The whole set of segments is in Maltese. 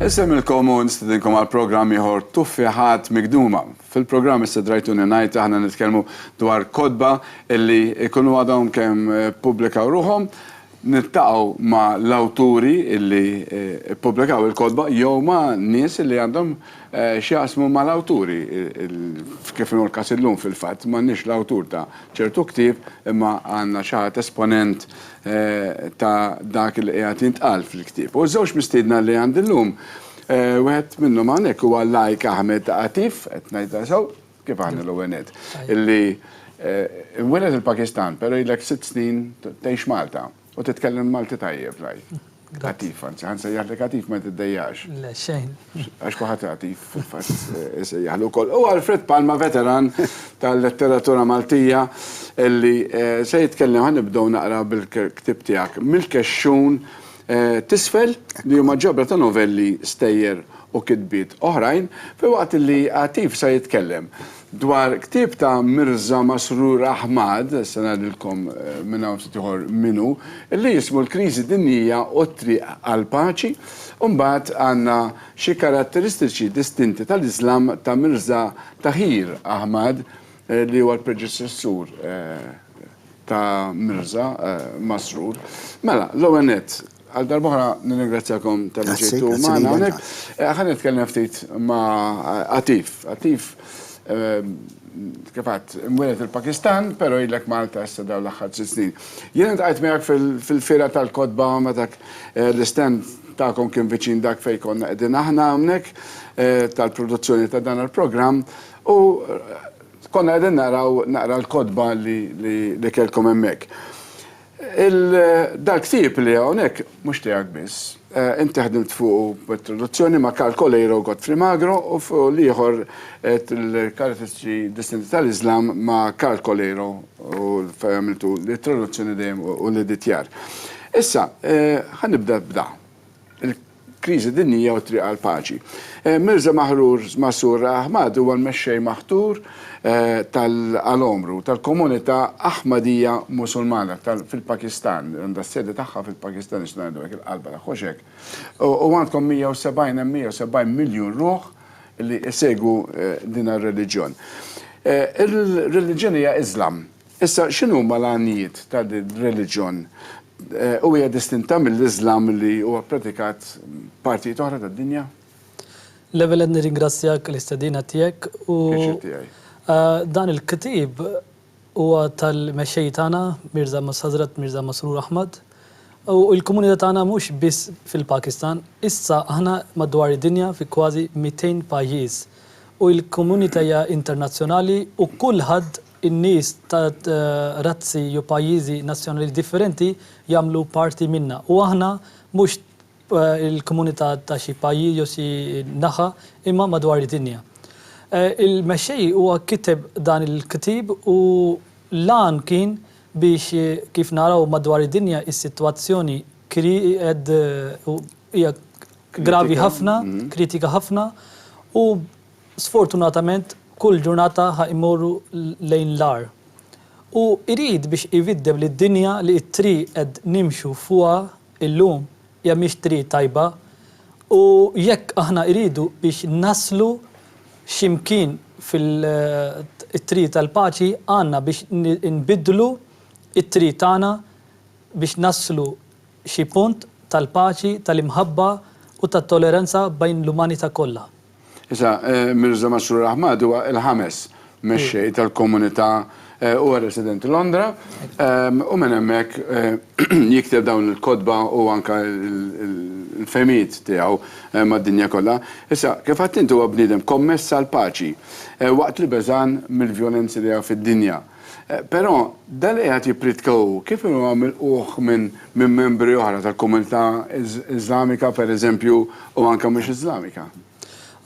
Insemmilkom u nistidinkom għal programm ieħor Tuffiħat Migduma. Fil-programm Istidrajtuni Ngħid aħna nitkellmu dwar kotba illi jkunu għadhom kemm ippubblikaw ruħhom, niltaqgħu ma' l-awturi illi ppubblikaw il-kotba jew ma' nies illi għandhom x'jaqsmu ma' l-awturi, kif inhu l-każ illum fil-fatt m'għandniex l-awtur ta' ċertu ktieb imma għandna xi ħadd esponent ta' dak li qiegħed jintqal fil-ktieb. U ż-żewġ mistiedna li għandi llum, wieħed minnhom hawnhekk huwa l-Għajk Ahmed Atif, qed ngħidha sew? Kif aħna l-ewwel nett? Illi inweled il-Pakistan, però ilek sitt snin tgħix Malta u titkellem Malti tajjeb l-Għajk. Attiv, anzi, għan sejjaħlek attiv ma t-dejjax. Le, xejn. Għax kuħat attiv, fil-fat, eh, sejjaħlu kol. U Alfred Palma, veteran tal-letteratura Maltija, illi eh, se jitkellem għan nibdow naqra bil-ktib tijak. Mil-kexxun eh, tisfel li huma ġabra ta' novelli stejjer u kitbiet oħrajn, fil-waqt li attiv se jitkellem Dwar ktieb ta' Mirża Masroor Ahmad, se ngħidilkom minn hawn ftit ieħor min hu, li jismu L-Kriżi Dinjija u t-Triq għall-Paċi, u mbagħad għandna Xi Karatteristiċi Distinti tal-Iżlam ta' Mirża Tahir Ahmad li huwa l-predeċessur ta' Mirża Masroor. Mela, l-ewwel nett, Għal darba oħra nirringrazzjakom tal-li ġejtu magħna hawnhekk. Ħa nitkellem ftit ma' Atif. Atif kif għadt imwieled il-Pakistan, però ilek Malta issa dawn l-aħħar tliet snin. Jiena ltqajt miegħek fil-Fiera tal-Kotba meta l-istand tagħkom kien viċin dak fejn konna qegħdin aħna hawnhekk tal-produzzjoni ta' dan il-programm u konna qegħdin naraw naqra l-kotba li kellkom hemmhekk. Dal-ktieb li hawnhekk mhux tiegħek biss. Inti ħdimt fuqu b'traduzzjoni ma' Karl Coleiro u Godfrey Magro u fuq l-ieħor qed il-Karatteristiċi Distinti tal-Iżlam ma' Karl Coleiro u fejn għamiltu t-traduzzjoni dejjem u l-editjar. Issa, ħa nibda b'da. kriżi dinjija u t-triq għall-paċi. Mirza Mahrur Masroor Ahmad huwa l-mexxej maħtur tal-Al-Omru, tal-komunità Ahmadija Musulmana fil-Pakistan, li għandha s-sede tagħha fil-Pakistan, nistgħu ngħidu hekk, il-qalba tagħha hux hekk. U għandkom 170, hemm 170 miljun ruħ li jsegwu din ir-reliġjon. Ir-reliġjon hija Iżlam. Issa, x'inhuma l-għanijiet ta' din ir-reliġjon? U hija distinta mill-Iżlam li huwa ppratikat f'partijiet oħra tad-dinja? L-ewwel nett nirringrazzjak għall-istedina tiegħek u dan il-ktieb huwa tal-mexxej tagħna Mirża Ħażrat Mirża Masroor Ahmad u l-komunità tagħna mhux biss fil-Pakistan, issa aħna madwar id-dinja fi kważi mitejn pajjiż u l-komunità hija internazzjonali u kulħadd In-nies ta' razzi jew pajjiżi nazzjonali differenti jagħmlu parti minnha u aħna mhux il-komunità ta' xi pajjiż jew xi naħa imma madwar id-dinja. Il-Mexxej huwa kiteb dan il-ktieb u l-għan kien biex kif naraw madwar id-dinja is-sitwazzjoni hija gravi ħafna, kritika ħafna u Sfortunatament kull ġurnata ħa jmorru lejn l-agħar. Hu jrid biex jviddeb li d-dinja li t-triq qed nimxu fuqha illum hija mhix triq tajba u jekk aħna jridu biex naslu xi mkien fit-triq tal-paċi għandna biex nbiddlu t-triq tagħna biex naslu xi punt tal-paċi, tal-imħabba u tat-toleranza bejn l-umanità kollha. Issa, Mirza Masroor Ahmad huwa l-ħames mexxej tal-komunità, huwa resident Londra, u minn hemmhekk jikteb dawn il-kotba u anke l-fehmiet tiegħu mad-dinja kollha. Issa, kif għedt int huwa bniedem kommess għall-paċi, waqt li beżgħan mill-vjolenzi li hawn fid-dinja. Però, dan li qiegħed jippritka hu, kif inhu għam ilquh minn minn membri oħra tal-komunità Iżlamika, per eżempju, u anke mhux Iżlamika?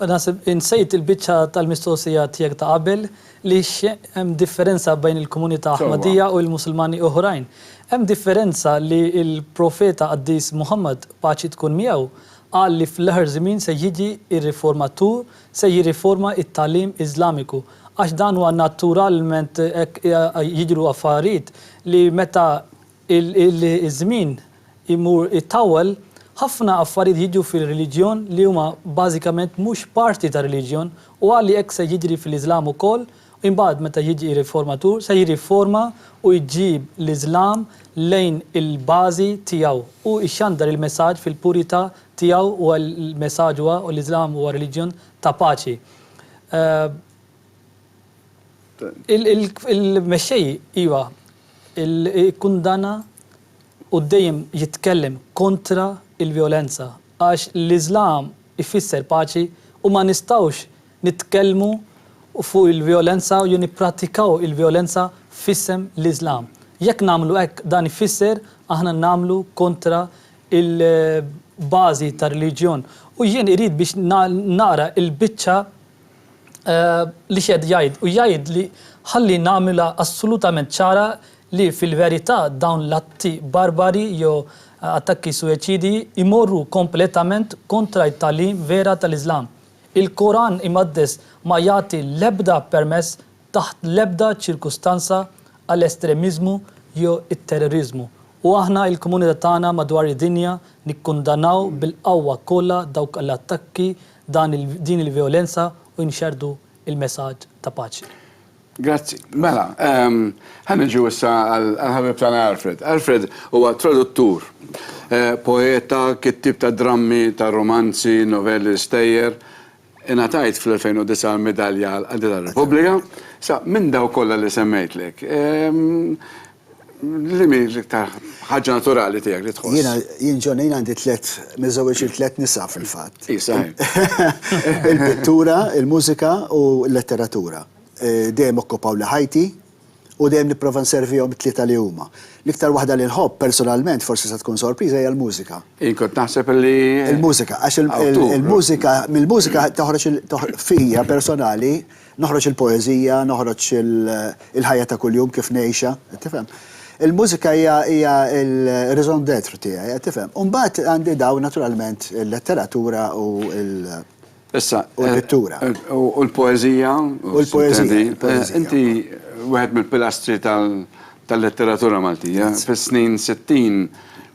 Naħseb insejt il-biċċa tal-mistoqsija tiegħek ta' qabel li x'hemm differenza bejn il-komunità Aħmadija u l-Musulmani oħrajn. Hemm differenza li l-Profeta qaddis Muħammad, paċi tkun miegħu, qal li fl-aħħar żmien se jiġi r-riformatur se jirriforma t-tagħlim Iżlamiku għax dan huwa naturalment hekk jidhru affarijiet li meta ż-żmien imur itawwal ħafna affarijiet jiġu fir-reliġjon li huma bażikament mhux parti tar-reliġjon u qali hekk se jiġri fl-Iżlam ukoll u imbagħad meta jiġi r-riformatur se jirriforma u jġib l-Iżlam lejn il-bażi tiegħu u jxandar il-messaġġ fil-purità tiegħu huwa l-messaġġ huwa u l-Iżlam huwa reliġjon ta' paċi. Il-mexxej iva kkundanna u dejjem jitkellem kontra l-vjolenza għax l-Iżlam ifisser paċi u ma nistgħux nitkellmu fuq il-vjolenza jew nipprattikaw il-vjolenza f'isem l-Iżlam. Jekk nagħmlu hekk dan ifisser aħna nagħmlu kontra il-bażi tar-reliġjon u jien irid biex naqra l-biċċa li x'qed jgħid u jgħidli ħalli nagħmilha assolutament ċara li fil-verità dawn l-atti barbari jew attakki suwiċidji jmorru kompletament kontra t-tagħlim vera tal-Iżlam. Il-Koran Imqaddes ma jagħti l-ebda permess taħt l-ebda ċirkustanza għal estremiżmu jew it-terroriżmu u aħna il-komunità tagħna madwar id-dinja nikkundanaw bil-qawwa kollha dawk l-attakki dan din il-vjolenza u nxerrdu il-mesaġġ ta' paċi. Grazzi. Mela, ħa niġu issa għall-ħabib tagħna Alfred. Alfred huwa traduttur, poeta, kittieb ta' drammi, ta' rumanzi, novelli, stejjer, Ingħatajt fl-2009 l-Midalja għall-Qadi tar-Repubblika. Sa, minn dawk kollha li semmejtlek, liema hi l-iktar ħaġa naturali tiegħek li tħoss? Jiena, jien John, jien għandi tliet, miżżewweġ lil tliet nisa fil-fatt. Hi, saħih. Il-pittura, il-mużika u l-letteratura. Dejjem okkupawli ħajti. u dejjem nipprova nservihom it-tlieta li huma. L-iktar waħda li nħobb, personalment, forsi se tkun sorpriża, hija l-mużika. Jien kont naħseb li. Il-mużika, għax il-mużika, mill-mużika toħroġ fija personali, noħroġ il-poeżija, noħroġ il-ħajja ta' kuljum kif ngħixha, qed tifhem? Il-mużika hija l-raison d'être tiegħi, qed tifhem? U mbagħad għandi dawn naturalment il-letteratura u l. Issa. U l-pittura. U l-poeżija. U l-poeżija. Inti wieħed mill-pilastri tal-letteratura Maltija. Fis-snin 60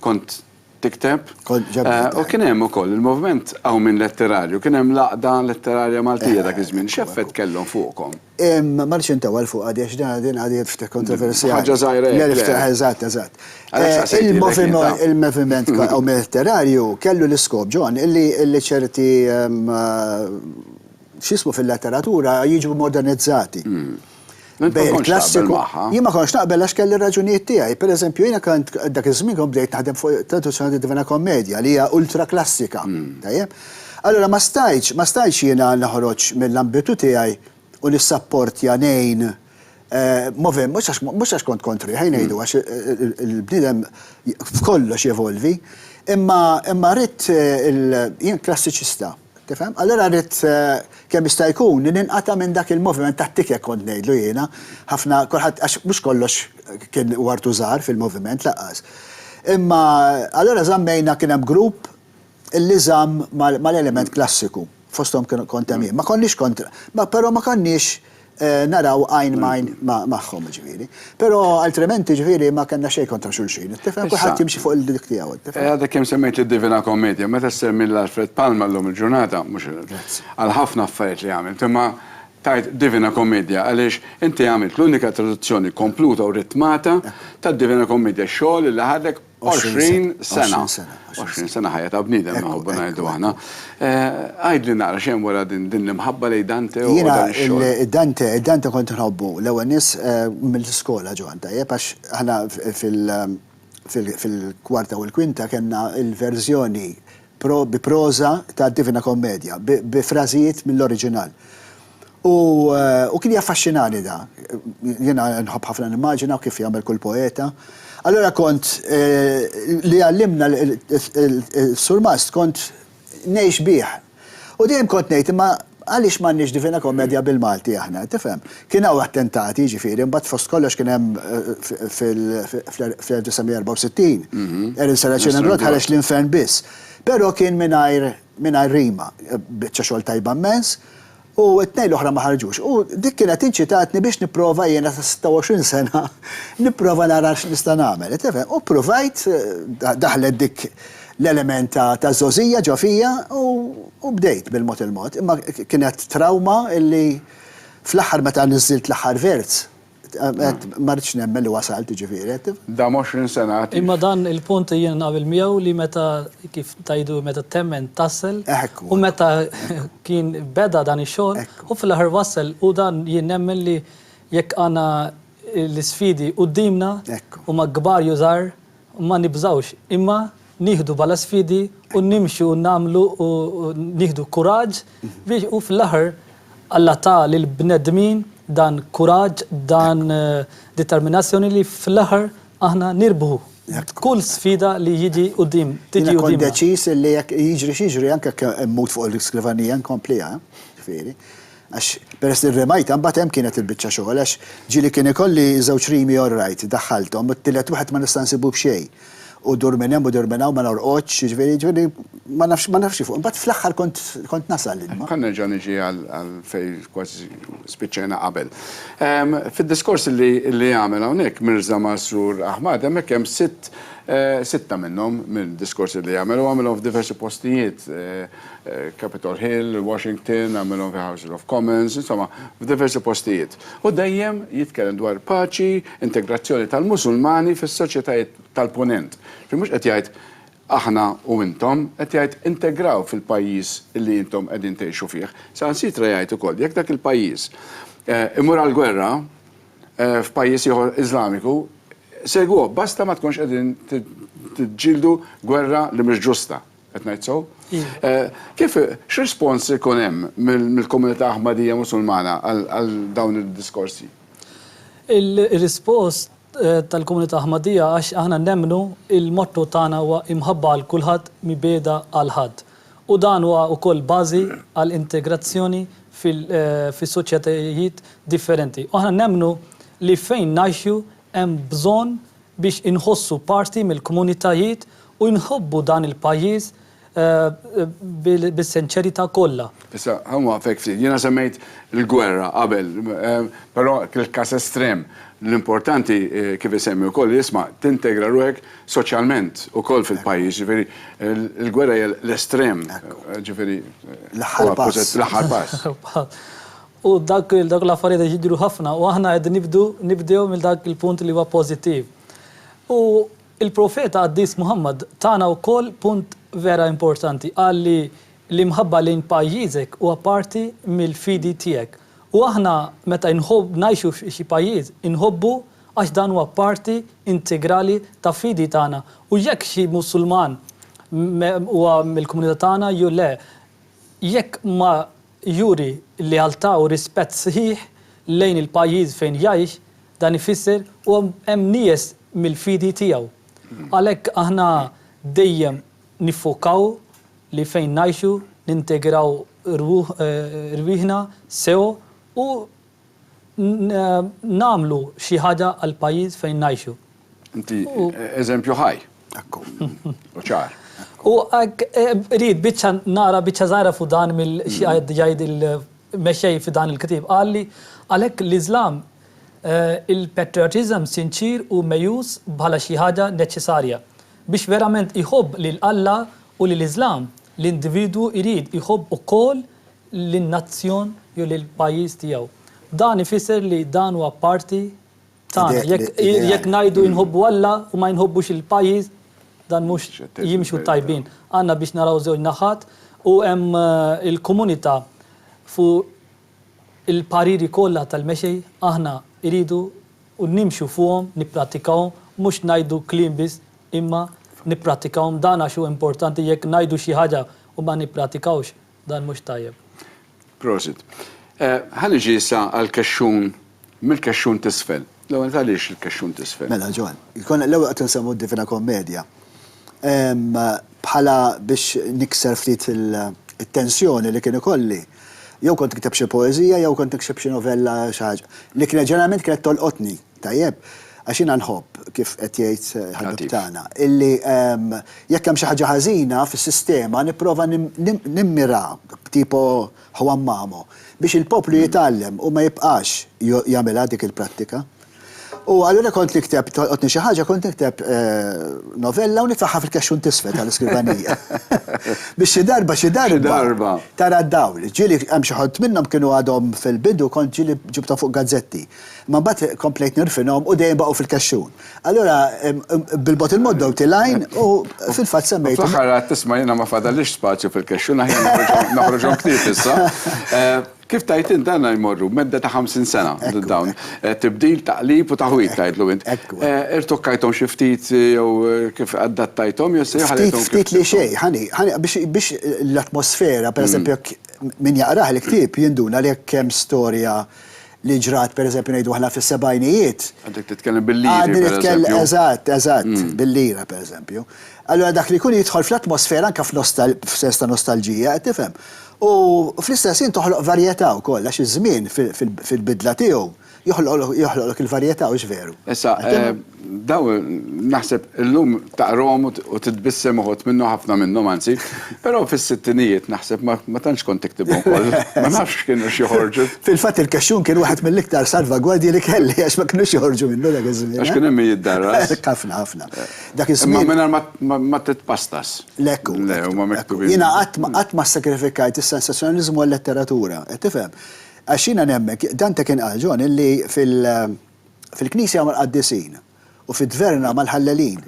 kont tikteb. Kont ġabbar. U kien hemm ukoll il-moviment Qawmien Letterarju, kien hemm l-Għaqda Letterarja Maltija dak iż-żmien. X'effett kellhom fuqkom? Ma rridx intewwal fuq għadi għax din għadi ftit kontroversjali. Ħaġa żgħira hekk. Eżatt, eżatt. Il-moviment Mediterranju kellu l-iskop, John, li ċerti x'jismu fil-letteratura jiġu modernizzati. Jien ma kontx naqbel għax kelli r-raġunijiet tiegħi. Per eżempju, jiena kont dak iż-żmien kont bdejt naħdem fuq traduzzjoni tad-Divina Kommedja li hija ultra klassika. Tajjeb? Allura ma stajtx, ma stajtx jiena noħroġ mill-ambitu tiegħi u nissapportja ngħin moviment, mhux għax, mhux għax kont kontri, ħaj ngħidu, għax il-bniedem f'kollox jevolvi, imma, imma ridt il, jien klassiċista, tifhem? Allura ridt kemm jista' jkun li ninqata' minn dak il-moviment tat-tikek kont ngħidlu jiena, ħafna, kulħadd, għax mhux kollox kien wartu żgħar fil-moviment laqqas. Imma, allura żammejna, kien hemm grupp li żamm mal-element klassiku, fosthom kont hemm jien. Ma konniex kontra, ma però ma konniex naraw għajn m'għajn magħhom, jiġifieri. Però altrimenti, jiġifieri, ma kellna xejn kontra xulxin, tifhem, kulħadd jimxi fuq il-dik tiegħu. Għadek kemm semmejt lid-Divina Kommedja, meta ssemmi lil Alfred Palma llum il-ġurnata, mhux għal ħafna affarijiet li għamilt, imma tgħid Divina Kommedja għaliex inti għamilt l-unika traduzzjoni kompluta u ritmata tad-Divina Kommedja, xogħol li ħadlek 20 sena. 20 sena ħajja ta' bniedem nħobbu ngħidu aħna. Għidli naqra xejn wara din l-imħabba lejn Dante u dan ix-xogħol. Jiena Dante, Dante kont nħobbu l-ewwel nies mill-iskola Ġwann tajjeb għax aħna fil-kwarta u l-kwinta kellna l-verżjoni bi proża tad-Divina Kommedja, bi frażijiet mill-oriġinal. U kien jaffaxxinani da. Jiena nħobb ħafna nimmaġina u kif jagħmel kull poeta. Allura kont, li għallimna l-surmast kont ngħix bih. U dejjem kont ngħid, imma, Għaliex m'għandniex Divina Commedia bil-Malti aħna, tifhem? Kien hawn attentati, jiġifieri, imbagħad fost kollox kien hemm fl-1964, Erin Saracen and Rod ħareġ L-Infern Biss. Però kien mingħajr mingħajr rima, biċċa xogħol tajba mmens, u t-tnejn l-oħra ma ħarġux. U dik kienet inċitatni biex nipprova jiena ta' 26 sena nipprova nara x'nista' nagħmel, tifhem? U ppruvajt, daħlet dik l-element ta' ta' żgħożija ġo fija u u bdejt bil-mod il-mod imma kienet trawma illi fl-aħħar meta niżżilt l-aħħar verz għedt ma ridtx nemmen li wasalt jiġifieri qed tifhem. Dam għoxrin sena għad jimxi. Imma dan il-punt jien naqbel miegħu li meta kif tgħidu meta temmen tasl u meta kien beda dan ix-xogħol u fl-aħħar wassal u dan jien nemmen li jekk għandna l-isfidi quddiemna huma kbar jew żgħar Ma nibżgħux, imma nieħdu bħala sfidi u nimxu u nagħmlu u nieħdu kuraġġ biex u fl-aħħar Alla ta lill-bnedmin dan kuraġġ, dan determinazzjoni li fl-aħħar aħna nirbħu kull sfida li jiġi quddiem, tiġi quddiemna. Jiena kont deċiż li jekk jiġri x'jiġri anke jekk immut fuq l-iskrivanija nkompliha, ġifieri. Għax peress li rrimajtha mbagħad hemm kienet il-biċċa xogħol għax ġieli kien ikolli żewġ rimi all right, daħħalthom, u t-tielet wieħed ma nista' nsibu b'xejn. U dur minn hemm u dur minn hawn ma norqodx, jiġifieri, jiġifieri ma nafx, ma nafx kif. Imbagħad fl-aħħar kont, kont nasal l-ilma. Ħa nerġa' niġi għal, għal fejn kważi spiċċajna qabel. Fid-diskors li, li għamel hawnhekk Mirża Masroor Ahmad hemmhekk hemm sitt, sitta minnhom mid-diskorsi li għamel, u għamilhom f'diversi postijiet, Capitol Hill, Washington, għamilhom fi Houses of Commons, insomma, f'diversi postijiet. U dejjem jitkellem dwar paċi, integrazzjoni tal-Musulmani fis-soċjetajiet tal-Punent. Ġifieri mhux qed jgħid aħna u intom, qed jgħid integraw fil-pajjiż li intom qegħdin tgħixu fih. Saħansitra jgħid ukoll jekk dak il-pajjiż imur għall-gwerra f'pajjiż ieħor Iżlamiku, segwuh, basta ma tkunx qegħdin tiġġieldu gwerra li mhix ġusta. Qed ngħid sew? Kif, x'rispons ikun hemm mill-komunità Aħmadija Musulmana għal dawn id-diskorsi? Ir-rispons tal-komunità Aħmadija għax aħna nemmnu l-motto tagħna huwa imħabba għal kulħadd mibgħeda għal ħadd. U dan huwa wkoll bażi għal integrazzjoni fis-soċjetajiet differenti. U aħna nemmnu li fejn ngħixu hemm bżonn biex inħossu parti mill-kmunitajiet u nħobbu dan il-pajjiż bis-senċerità kollha. Issa, ħa nwaqfek ftit. Jiena semmejt il-gwerra qabel, però il-każ estrem. L-importanti, kif isemmi wkoll, hi isma', tintegra ruħek soċjalment ukoll fil-pajjiż, jiġifieri l-gwerra hija l-estrem, jiġifieri, l-aħħar pass. U dak dawk l-affarijiet qed jidhru ħafna u aħna qed nibdu nibdew minn dak il-punt li huwa pożittiv. U l-Profeta qaddis Muħammad tana wkoll punt vera importanti, qal li l-imħabba lejn pajjiżek huwa parti mill-fidi tiegħek. U aħna meta inħobb ngħixu f'xi pajjiż, inħobbu għax dan huwa parti integrali ta' fidi tagħna. U jekk xi Musulman huwa mill-komunità tagħna jew le, jekk ma Juri li għal ta' u rispett sħiħ lejn il-pajjiż fejn jgħix, dan ifisser u hemm nijes mill-fidi tiegħu. Għalhekk aħna dejjem niffokaw li fejn ngħixu nintegraw rwieħna sew u nagħmlu xi ħaġa għall-pajjiż fejn ngħixu. Inti eżempju ħaj. Ekku. U ċar. U rrid biċċa nara biċċa żgħira fuq dan mill xi qed jgħid il-mexxej fi dan il-ktieb. Qal li għalhekk l-Iżlam il-patriotism sinċier hu meqjus bħala xi ħaġa neċċesarja. Biex verament iħobb lil Alla u lill-Iżlam, l-individwu jrid iħobb ukoll lin-nazzjon jew lill-pajjiż tiegħu. Dan ifisser li dan huwa parti tagħna. Jekk jekk ngħidu inħobbu Alla u ma inħobbux il-pajjiż, dan mhux jimxu tajbin. Għandna biex naraw żewġ naħat u hemm il-komunità fuq il-pariri kollha tal-mexej aħna iridu u nimxu fuqhom, nipprattikawhom, mhux ngħidu kliem biss imma nipprattikawhom. Dan għax huwa importanti jekk ngħidu xi ħaġa u ma nippratikawx dan mhux tajjeb. Prosit. Ħa niġi issa għall-kexxun, mill-kexxun t'isfel. L-ewwel nett għaliex il-kexxun t'isfel? Mela Ġwann, konna l-ewwel qed insemmu d-Divina Kommedja. Bħala biex nikser ftit it-tensjoni li kien ikolli, jew kont nikteb xi poeżija jew kont nikseb xi novella xi ħaġa, li kienet ġeneralment kienet tolqotni. Tajjeb, għax jiena nħobb, kif qed jgħid ħabib tagħna, illi jekk hemm xi ħaġa ħażina fis-sistema nipprova nimmira b'tipo Juan Mamo biex il-poplu jitgħallem u ma jibqax jagħmilha dik il-prattika. U allura kont nikteb, tolqotni xi ħaġa, kont nikteb novella u nitfagħha fil-kexxun t'isfel tal-iskrivanija. Biex xi darba, xi darba tara d-dawl. Ġieli hemm xi ħut minnhom kienu għadhom fil-bidu kont ġieli ġibthom fuq gazzetti. Imma mbagħad komplejt nirfinhom u dejjem baqgħu fil-kexxun. Allura bil-bogħod il-mod dawt il-għajn u fil-fatt semmejthom. Fl-aħħar għedt isma' jiena ma fadallix spazju fil-kexxun aħjar noħroġhom ktieb issa. Kif tgħid int għandna jmorru b'medda ta' 50 sena dawn. Tibdil, taqlib u taħwid tgħidlu int. Irtukkajthom xi ftit jew kif adattajthom jew se ħallejthom kif. Ftit li xejn, ħani, ħani biex l-atmosfera, pereżempju jekk min jaqrah il-ktieb jinduna li jekk hemm storja li ġrat pereżempju ngħidu aħna fis-sebgħinijiet. Għadek titkellem bil-liri. Għadni nitkellem eżatt, eżatt, bil-lira pereżempju. Allura dak li jkun jidħol fl-atmosfera anke f'sens ta' nostalġija, qed tifhem? U fl-istess ħin toħloq varjetà wkoll għax iż-żmien fil-bidla tiegħu joħloqlok il-varjetà, hux veru? Issa, Dawn naħseb illum taqrahom u titbissem uħud minnhom ħafna minnhom anzi, però fis-sittinijiet naħseb ma tantx kont tiktibhom kollha. Ma nafx x'kienu x' joħorġu. Fil-fatt il-kexxun kien wieħed mill-iktar salvagwardji li kelli għax ma kinux joħorġu minnu dak iż-żmien. Għax kien hemm min jiddarras. Hekk ħafna ħafna. Dak iż-żmien. Imma mingħajr ma titpastas. Hekk hu. Le huma miktubin. Jiena qatt ma qatt ma ssakrifikajt is-sensazzjonaliżmu għal-letteratura. Qed tifhem? Għax jiena nemmen, Dante kien qal, John, illi fil-, fil-knisja mal-qaddisin u fid-dverna mal-ħallelin.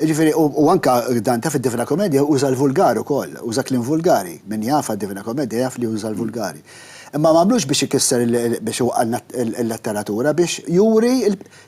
Jiġifieri u u anke Dante fid-Divina Commedia uża l-vulgar ukoll, uża kliem vulgari. Min jafha d-Divina Commedia jaf li uża l-vulgari. Imma m'għamlux biex ikisser il biex iwaqqalna l-letteratura, biex juri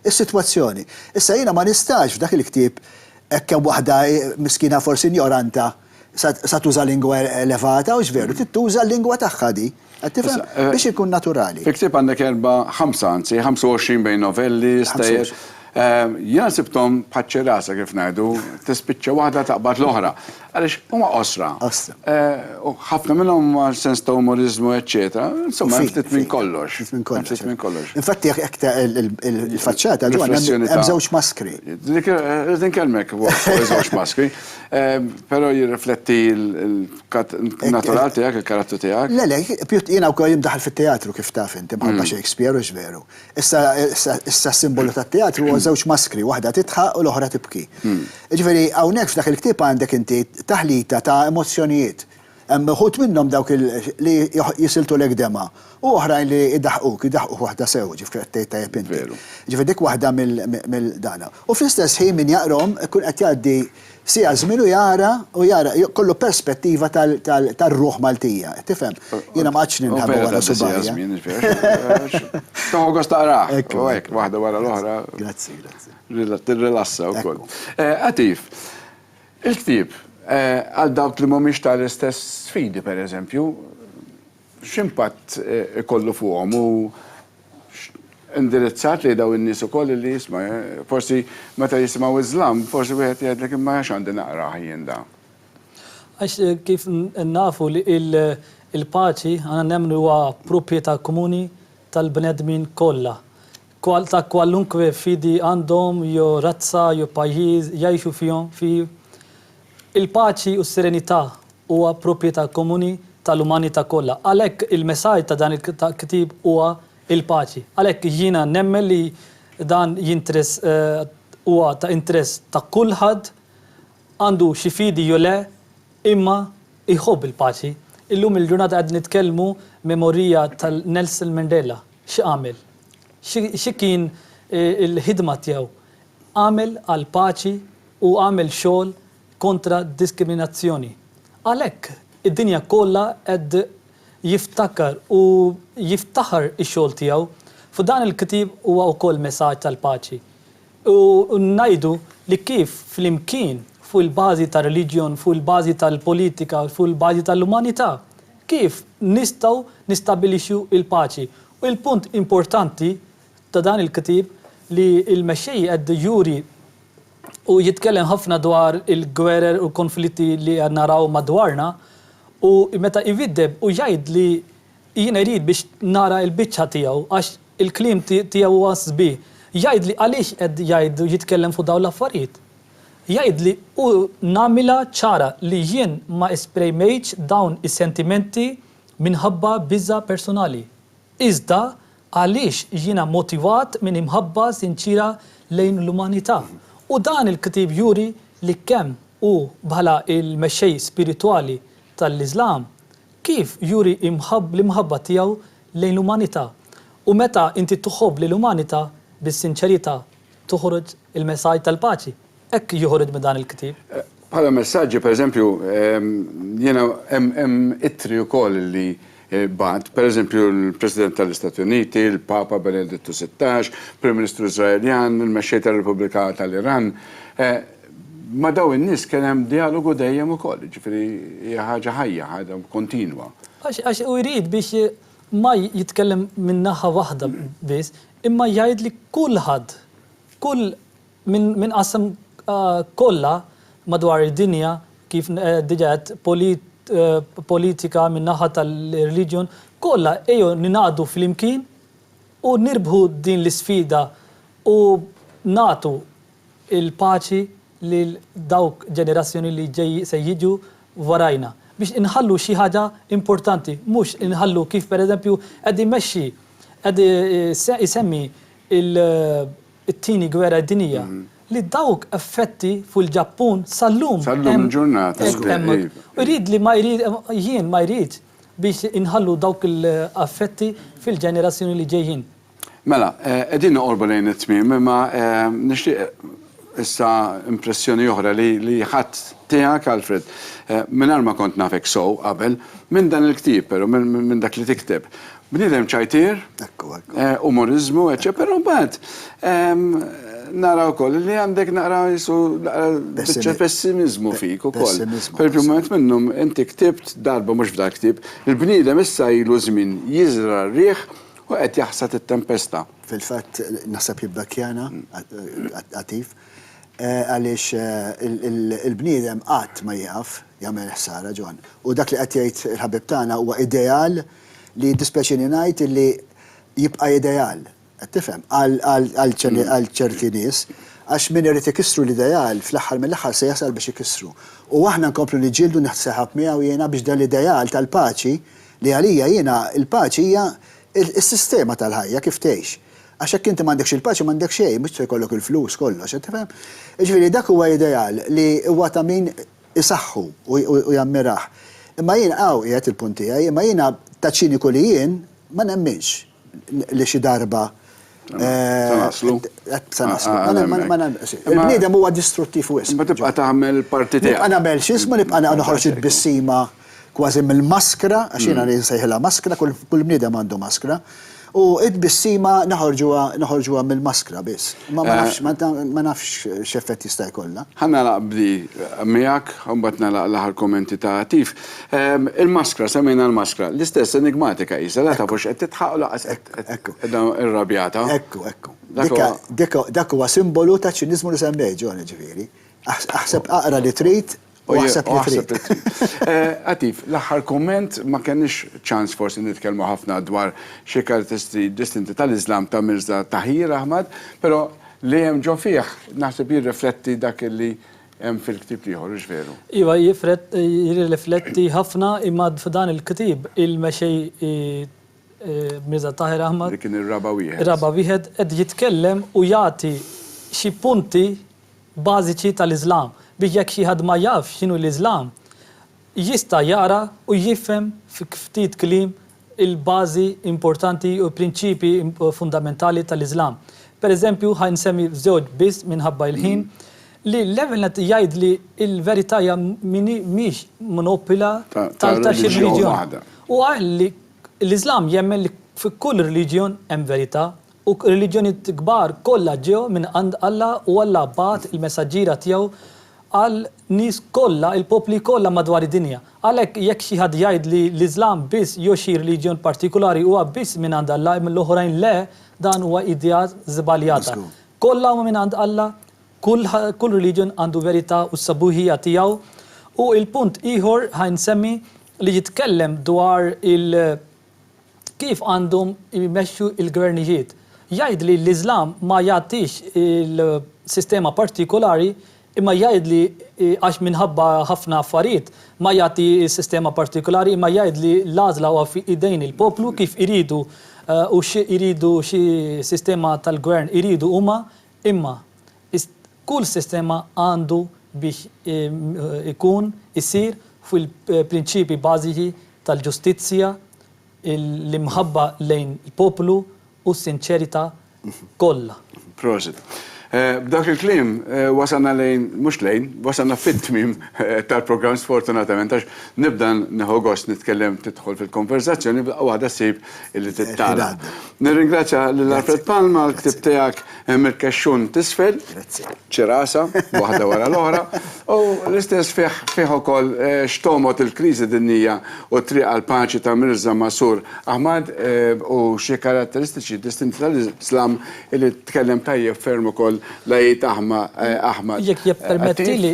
s-sitwazzjoni. Issa jiena ma nistax f'dak il-ktieb hekk hemm waħda miskina forsi injoranta, Sa tuża lingwa elevata u x'veru trid tuża l-lingwa tagħha di. Qed tifhem? Biex ikun naturali. Fil-ktieb għandek erba', ħamsa anzi, 25 bejn novelli, stejjer. Jiena sibthom bħaċ-ċirasa kif ngħidu, tispiċċa waħda taqbad l-oħra. Għaliex huma qosra. Qosra. U ħafna minnhom huma sens ta' umoriżmu eċċetera, insomma hemm ftit minn kollox. Ftit minn kollox. Ftit minn kollox. Infatti jekk il-faċċata hemm żewġ maskri. Dik inkellmek fuq iż-żewġ maskri. Però jirrifletti l-natural tiegħek, il-karattru tiegħek. Le, le, jiena wkoll imdaħħal fit-teatru kif taf int, imħabba Shakespeare, hux veru? Issa s-simbolu tat-teatru huwa żewġ maskri, waħda tidħaq u l-oħra tibki. Jiġifieri hawnhekk f'dak il-ktieb għandek inti taħlita ta' emozzjonijiet. Hemm uħud minnhom dawk li jisiltulek dema' u oħrajn li jdaħquk, jdaħquk waħda sew, ġifieri qed tgħid tajjeb inti. Ġifieri dik waħda mill dana. U fl-istess ħin min jaqrahom ikun qed jgħaddi siegħa żmien u jara, u jara, jkollu perspettiva tar-ruħ Maltija, qed tifhem? Jiena ma qgħadtx ninħa minn wara subgħajja. Tieħu gost taqrah, u hekk, waħda wara l-oħra. Grazzi, grazzi. Tirrilassa wkoll. Għatif. Il-ktieb, għal dawk li mhumiex ta' l-istess fidi, per eżempju, x'impatt ikollu fuqhom u x'indirizzat lejn dawn in-nies ukoll illi isma', forsi meta jisimgħu Iżlam, forsi wieħed jgħidlek imma għax għandi naqrah jien dan? Għax kif nafu li l-paċi aħna nemmnu li huwa propjetà komuni tal-bnedmin kollha. ta' kwalunkwe fidi għandhom jew razza jew pajjiż jgħixu fihom, fih. Il-paċi u s-serenità huwa proprjetà komuni tal-umanità kollha. Għalhekk il-messaġġ ta' dan il-ktieb huwa il-paċi. Għalhekk jiena nemmen li dan jinteress huwa ta' interess ta' kulħadd, għandu xi fidi jew le, imma jħobb il-paċi. Illum il-ġurnata qegħdin nitkellmu memorija tal-Nelson Mandela. X'għamel? Xi kien il-ħidma tiegħu? Għamel għall-paċi u għamel xogħol kontra d-diskriminazzjoni. Għalhekk, id-dinja kollha qed jiftakar u jiftaħar ix-xogħol tiegħu. F'dan il-ktieb huwa wkoll mesaġġ tal-paċi. U ngħidu li kif flimkien, fuq il-bażi tar-reliġjon, fuq il-bażi tal-politika, fuq il-bażi tal-umanità, kif nistgħu nistabilixxu l-paċi Il-punt importanti ta' dan il-ktieb li l-Mexxej qed juri u jitkellem ħafna dwar il-gwerer u l-konflitti li qed naraw madwarna u meta jwiddeb u jgħid li jien irid biex nara l-biċċa tiegħu għax il-kliem tiegħu huwa sbieħ. Jgħid li għaliex qed jgħid u jitkellem fuq dawn l-affarijiet. Jgħid li u nagħmilha ċara li jien ma esprejmejtx dawn is-sentimenti minħabba biża' personali, iżda għaliex jiena motivat minn imħabba sinċiera lejn l-umanità. U dan il-ktieb juri li kemm hu bħala l-mexxej spiritwali tal-Iżlam, kif juri l-imħabba tiegħu lejn l-umanità. U meta inti tħobb lill-umanità bis-sinċerità, toħroġ il-messaġġ tal-paċi. Hekk jieħu ritmi dan il-ktieb. Bħala messaġġi, pereżempju, jiena hemm ittri wkoll li bagħat, pereżempju l-President tal-Istati Uniti, il-Papa Benedittu Sittax, Prim Ministru Iżraeljan, il-Mexxej tar-Repubblika tal-Iran. Ma' dawn in-nies kien hemm djalogu dejjem ukoll, jiġifieri hija ħaġa ħajja, ħaġa kontinwa. Għax hu jrid biex ma jitkellem minn naħa waħda biss, imma jgħid li kulħadd, kull Minn qasam kollha madwar id-dinja kif diġa għedt politika minn naħa tal-religion kollha ejjew ningħaqdu flimkien u nirbħu din l-isfida u nagħtu l-paċi lil dawk ġenerazzjoni li se jiġu warajna biex inħallu xi ħaġa importanti mhux inħallu kif pereżempju qed imexxi qed isemmi l it-Tieni Gwerra Dinjija, li dawk effetti fuq il-Ġappun sal-lum. Sal-lum il-ġurnata. Hekk hemm. Irid li ma jrid, jien ma jrid biex inħallu dawk il-effetti fil-ġenerazzjoni li ġejjin. Mela, qegħdin noqorbu lejn it-tmiem, imma nixtieq issa impressjoni oħra li ħadt tiegħek, Alfred, mingħajr ma kont nafek sew qabel, minn dan il-ktieb, però minn dak li tikteb. Bniedem ċajtier, umoriżmu, eċċetera, però mbagħad nara wkoll li għandek naqra jisu biċċa pessimiżmu fik ukoll. Pereżempju, wieħed minnhom inti ktibt darba mhux f'dal-ktieb, il-bniedem issa ilu żmien jiżra' r-riħ u qed jaħsad it-tempesta. Fil-fatt naħseb jibda Kiana, Għatif, għaliex il-bniedem qatt ma jieqaf jagħmel ħsara, John. U dak li qed jgħid il-ħabib tagħna huwa ideal li jiddispjaċini ngħid illi jibqa' ideal, qed tifhem, għal ċerti nies, għax min irid ikissru l-ideal fl-aħħar mill-aħħar se jasal biex ikissru. U aħna nkomplu niġġieldu nieħdu seħab miegħu jiena biex dan l-ideal tal-paċi, li għalija jiena l-paċi hija s-sistema tal-ħajja kif tgħix. Għax jekk inti m'għandekx il-paċi m'għandek xejn, mhux se jkollok il-flus, kollox, qed tifhem. Jiġifieri dak huwa ideal li huwa ta' min isaħħu u jammirah. Imma jien hawn qiegħed il-punt tiegħi, imma jiena ta' ċiniku li jien ma nemminx li xi darba Se naslu. Se naslu. Il-bniedem huwa distruttiv wisq. Imma tibqa' tagħmel il-parti tiegħek. Nibqa' nagħmel x'ismu, nibqa' noħroġ it-tbissima. kważi mill-maskra, għax jiena nsejħilha maskra, kull bniedem għandu maskra, u t-tbissima noħorġuha noħorġuha mill-maskra biss. Imma ma nafx ma nafx x'effett jista' jkollha. Ħa nagħlaq b'di miegħek, u mbagħad nagħlaq l-aħħar kummenti ta' Għatif. Il-maskra, semmejna l-maskra, l-istess enigmatika qisha, la taf hux qed tidħaq u lanqas qed qiegħda rrabjata. Ekku, ekku. Dak huwa simbolu taċ-ċiniżmu li semmejt, John, jiġifieri. Aħseb aqra li trid, U aħseb li trid. Għatif, l-aħħar kumment, ma kenniex ċans forsi nitkellmu ħafna dwar xi karatteristiċi distinti tal-Iżlam ta' Mirża Tahir Ahmad, però li hemm ġo fih naħseb jirrifletti dak li hemm fil-ktieb l-ieħor, hux veru? Iva, jirrifletti ħafna, imma f'dan il-ktieb il-mexej Mirża Tahir Ahmad, li kien ir-raba' wieħed, qed jitkellem u jagħti xi punti, bażiċi tal-Iżlam biex jekk xi ħadd ma jafx x'inhu l-Iżlam jista' jaqra u jifhem f'ftit kliem il-bażi importanti u l-prinċipji fundamentali tal-Iżlam. Per eżempju, ħa nsemmi żewġ biss minħabba l-ħin, li l-ewwel nett jgħid li l-verità hija mhix monopila ta' xi reliġjon. Huwa qal li l-Iżlam jemmen li f'kull reliġjon hemm verità. U r-reliġjonijiet kbar kollha ġew minn għand Alla u Alla bagħat il-messaġġiera tiegħu għal nies kollha, il-popli kollha madwar id-dinja. Għalhekk jekk xi ħadd jgħid li l-Iżlam biss jew xi reliġjon partikulari huwa biss minn għand Alla imma l-oħrajn le, dan huwa idea żbaljata. Kollha huma minn għand Alla, kull kull reliġjon għandu verità u s-sabuħija tiegħu. U il-punt ieħor ħa nsemmi li jitkellem dwar il- kif għandhom imexxu l-gvernijiet. Jgħid li l-Iżlam ma jagħtix il-sistema partikolari imma jgħid li għax minħabba ħafna affarijiet ma jagħti s-sistema partikolari imma jgħid li l-għażla huwa fi idejn il-poplu kif iridu u xi iridu xi sistema tal-gvern iridu huma Imma, is, kull sistema għandu biex i, ikun, isir fuq il-prinċipji bażiċi tal-ġustizzja, l-imħabba lejn l-poplu u s-sinċerità kollha. Prosit. B'dawk il-kliem, wasalna lejn, mhux lejn, wasalna fit-tmiem tal-programm sfortunatament għax nibda nieħu gost nitkellem tidħol fil-konverżazzjoni, f'daqqa waħda ssib, li tittala. Nirringrazzja lil Alfred Palma għall-ktieb tiegħek Hemm il-Kexxun t'Isfel, Ċirasa, waħda wara l-oħra, u l-istess fih ukoll X'Togħmod il-Kriżi Dinjija u t-Triq għall-Paċi ta' Mirża Masroor Ahmad u Xi Karatteristiċi Distinti tal-Islam li tkellem tajjeb ferm ukoll l-Għid Ahmad. Jekk jippermettili,